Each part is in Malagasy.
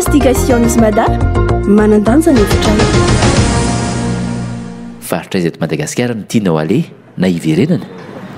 Investigations Mada, manan-danja ny efitrano. Faritra aiza eto Madagasikara no tianao aleha na hiverenana?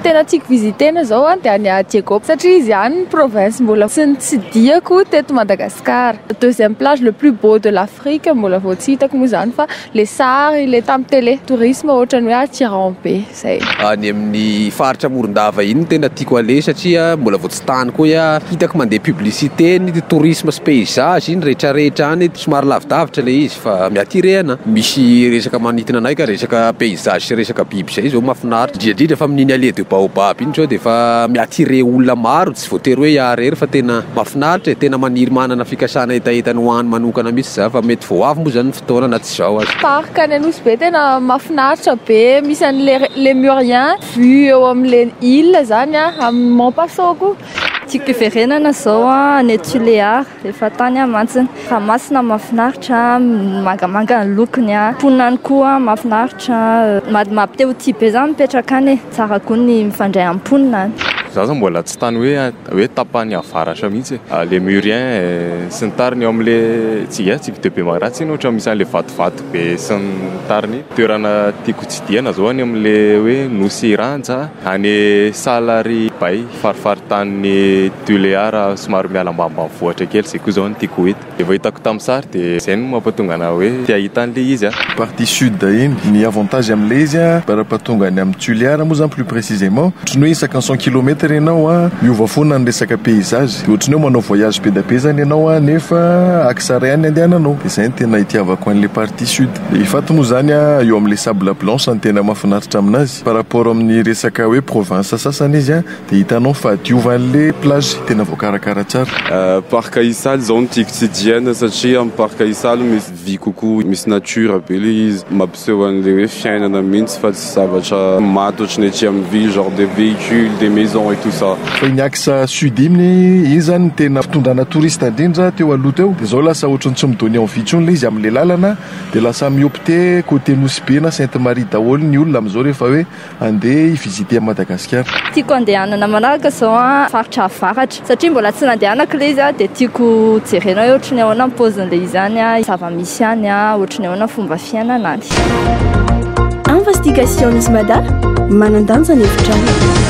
Tena tiako visiter-na izao an, dia any à Diego satria izy ihany ny province mbola tsy nitsidihako teto Madagasikara. Deuxième plage le plus beau de l'Afrique mbola vao tsy hitako moa izany fa ilay sary ilay tamin'ny télé, tourisme ohatran'ny hoe aty Rahombe. Zay. Any amin'ny faritra Morondava iny no tena tiako aleha satria mbola vao tsy tany koa iah. Hitako mandeha publicité ny tourisme sy paysage iny rehetrarehetra any. Somary lavidavitra ilay izy fa mi-attirer anah. Misy resaka manintona anay ka resaka paysage sy resaka biby izay izao mahafinaritra. Indrindra indrindra fa amin'iny allée de baobab iny izao dia efa mi-attirer olona maro. Tsy voatery hoe iah rery fa tena mafinaritra e, tena maniry manana fikasana hetaheta ny ho any manokana mitsy za fa mety vao avy moa zany ny fotoana na tsy zao aza. Parc any Anosy be tena mafinaritra be misy an'i le Lemurien vue eo am le ile zany a, am Mont Paso koa. Tiako hiverenana zao any Tuléar. Efa tany aho mantsy. Fa masina mahafinaritra, mangamanga ny lokony, mponina any koa mahafinaritra, mampite ho tia be zany mipetraka any e, tsara koa ny mifandray amin'ny mponina any. Za zao mbola tsy tany hoe hoe tapany avaratra mihitsy e, Lemurien e sy ny tariny eo amle tsy ya tsy de be magnaratsy iny ohatran'ny misy anle vatovato be sy ny tariny iny. Toerana tiako tsidihana zao any amle hoe Nosy Ranja any Salary Bay. Farifaritanin'i Tuléar somary miala ambanimbanivohitra kely izay koa izao no tiako ho hita. Dia vao hitako tamin'ny sary dia izay no mampatonga anà hoe te hahita an'ilay izy aho. Partie sud iny, ny avantage amin'ilay izy an, par rapport tonga any amin'ny Tuléar moa izany plus précisément, ohatry ny hoe isaka ny cent kilomètre ianao an, miova foana ny resaka paysage, dia ohatry ny hoe manao voyage be dia be izany ianao an, nefa axe iray ihany no andehananao. Dia izay no tena itiavako an'ilay partie sud. Ilay faty moa izany an, eo amin'ilay sable blanche no tena mahafinaritra amin'azy. Par rapport amin'ny resaka hoe province sasany izy dia hitanao fa diovin'le plage tena voakarakara tsara. Parc Isaly zao no tiako tsidihana satria am parc Isaly misy vy kokoa misy nature be le izy mampiseho an'le hoe fiainana mintsy fa tsy zavatra maty ohatry ny aty am ville genre des vehicules des maisons et tout ça. Fa iny axe sud iny iny zany no tena fitondrana touriste indrindra teo aloha teo de zao lasa ohatry ny tsy mi donner envie intsony le izy amle lalana. Dia lasa mihopte côté Nosy Be na Sainte Marie daholo ny olona amin'izao rehefa hoe andeha hi visiter an'i Madagasikara. Tiako andehanana manaraka izao an, faritra avaratra satria mbola tsy nandehanako ilay izy an, dia tiako jerena hoe ohatry ny ahoana ny paozin'ilay izy any an, zava-misy any an, ohatry ny ahoana ny fomba fiainana any. Investigations Mada, manan-danja ny hevitrao.